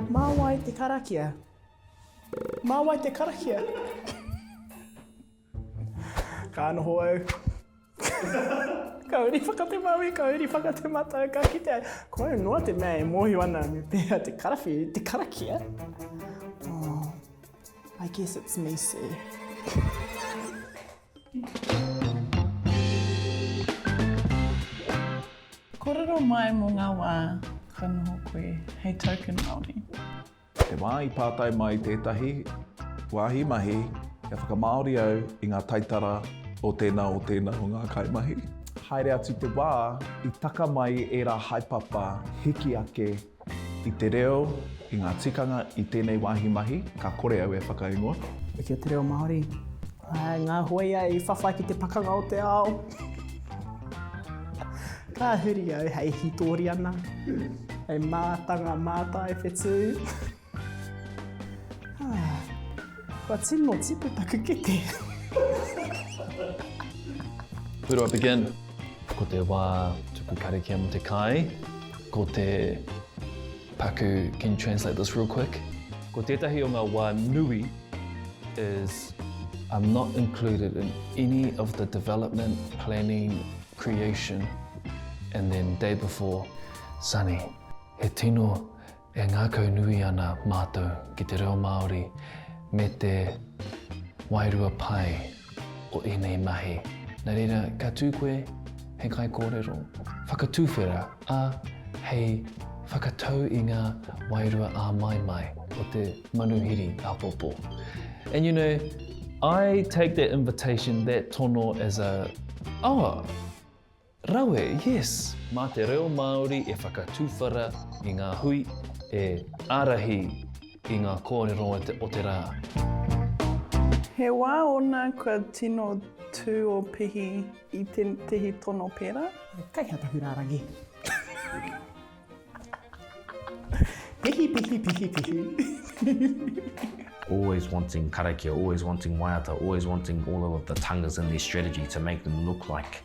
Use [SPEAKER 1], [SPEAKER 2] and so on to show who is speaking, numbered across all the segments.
[SPEAKER 1] Mā wai te karakia? Mā wai te karakia? Ka noho au. ka uri whakatemaui, ka uri whakatematau, ka kite ai. Ko au noa te mea e mōhio ana me pēhea te karawhiu, te karakia. Oh, I guess it's me, sir.
[SPEAKER 2] Kōrero mai mō ngā wā kua noho koe hei Token Māori. Te wā
[SPEAKER 3] i pātai mai tētahi wāhi mahi kia whakamāori au i ngā taitara o tēnā o tēnā o ngā kaimahi. Haere atu te wā i taka mai ērā haepapa hiki ake I te reo, i ngā tikanga, i tēnei wāhi mahi, ka kore au e whakaingoa. Kia te reo
[SPEAKER 1] Māori. Hai ngā hoia i whawhai ki te pakanga o te ao. Ka huri au hei hītori ana, hei mātanga mātaiwhetū. Kua tino tipu taku kete.
[SPEAKER 4] Where do I begin? Ko te wā tuku karakia mo te kai, ko te paku, can you translate this real quick? Ko tētahi o ngā wā nui is I'm not included in any of the development, planning, creation and then day before, sunny, he tino E ngākau nui ana mātou ki te reo Māori me te wairua pai o ēnei mahi. Nā reira, ka tū koe hei kaikōrero, whakatuwhera, ā, hei whakatau i ngā wairua āmaimai o te manuhiri āpōpō. And you know, I take that invitation, that tono as a, oh, Rawe, yes! Mā te reo Māori e whakatuwhara i ngā hui, e ārahi i ngā kōrero o te rā.
[SPEAKER 2] He wā ōna kua tino tū ō Pihi i tētehi tono pērā. He kaihatahu rārangi.
[SPEAKER 1] Pihi, pihi, pihi, pihi.
[SPEAKER 5] Always wanting karakia, always wanting waiata, always wanting all of the tangas in their strategy to make them look like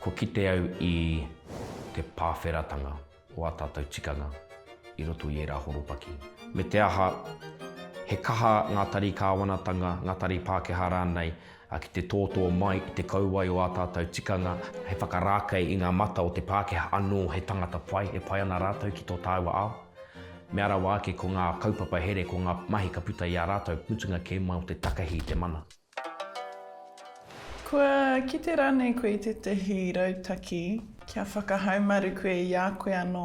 [SPEAKER 4] Kua kite au
[SPEAKER 5] i te pāwheratanga o ā tātou tikanga i roto i ērā horopaki. Me te aha, he kaha ngā tari kāwanatanga, ngā tari Pākehā rānei, ki te tōtō mai i te kauae o ā tātou tikanga, he whakarākei i ngā mata o te Pākehā anō he tangata pai e pai ana rātou ki tō tāua ao. Mea rawa ake ko ngā kaupapa here, ko ngā mahi ka puta i a rātou, mutunga kē mai o te takahi i te mana.
[SPEAKER 2] Kua kite rānei koe i tētahi rautaki kia whakahaumaru koe i a koe anō,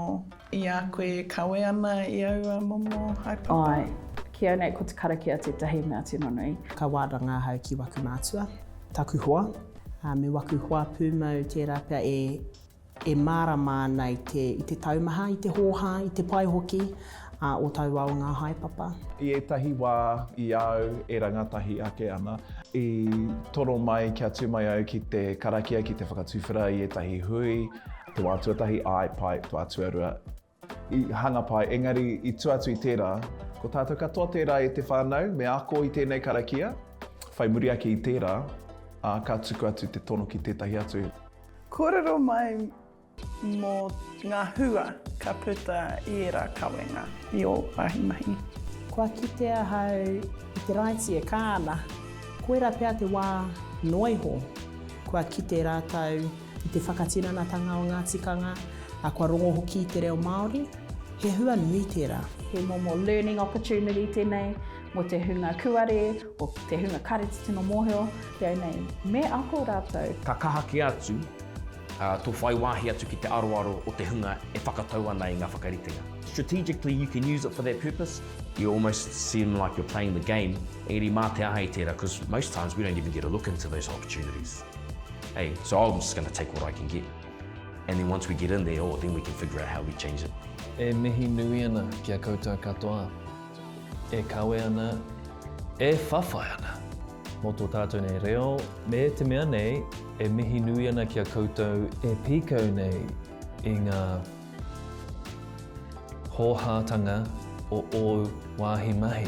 [SPEAKER 2] i a koe e kawe ana i aua momo haepapa? Āe. Ki au nei
[SPEAKER 6] ko te karakia tētahi mea tino nui. Ka wāranga ahau
[SPEAKER 1] ki waku mātua, taku hoa, ā, me waku hoa pūmau tērā pea e. e mārama ana i te, i te taumaha, i te hōhā, i te pai hoki ā, o taua ao ngā haepapa. I ētahi wā,
[SPEAKER 3] i a au e rangatahi ake ana, i toro mai kia tū mai au ki te karakia ki te whakatuwhera i ētahi hui, te wā tuatahi, āe, pai, wā tuarua, I hanga pai, engari i tua atu i tērā, ko tātou katoa tērā e te whānau, me ako i tēnei karakia. Whai muri ake i tērā, ā, ka tuku atu te tono ki tētahi atu. Kōrero
[SPEAKER 2] mai mō ngā hua ka puta i ērā kawenga i ō wāhi mahi. Kua kite
[SPEAKER 1] ahau i te raiti e kā ana. Koirā pea te wā noa iho kua kite rātou. I te whakatiranatanga o ngā tikanga, ā, kua rongo hoki i te reo Māori, he hua nui tērā. He momo learning
[SPEAKER 6] opportunity tēnei mō te hunga kuare, mō te hunga kāreti tino mōhio, reo nei, me ako rātou. Ka kaha kē atu
[SPEAKER 5] tō whai wāhi atu ki te aroaro o te hunga e whakatau ana i ngā whakaritenga. Strategically you can use it for that purpose. You almost seem like you're playing the game, engari mā te aha i tērā, because most times we don't even get a look into those opportunities. Hey, so I'm just going to take what I can get. And then once we get in there, oh, then we can figure out how we change it. E mihi nui
[SPEAKER 4] ana ki a koutou katoa. E kawe ana, e whawhai ana. Mō tō tātou nei reo, me te mea nei, e mihi nui ana ki a koutou e pīkau nei i ngā Hōhātanga o ōu wāhi mahi.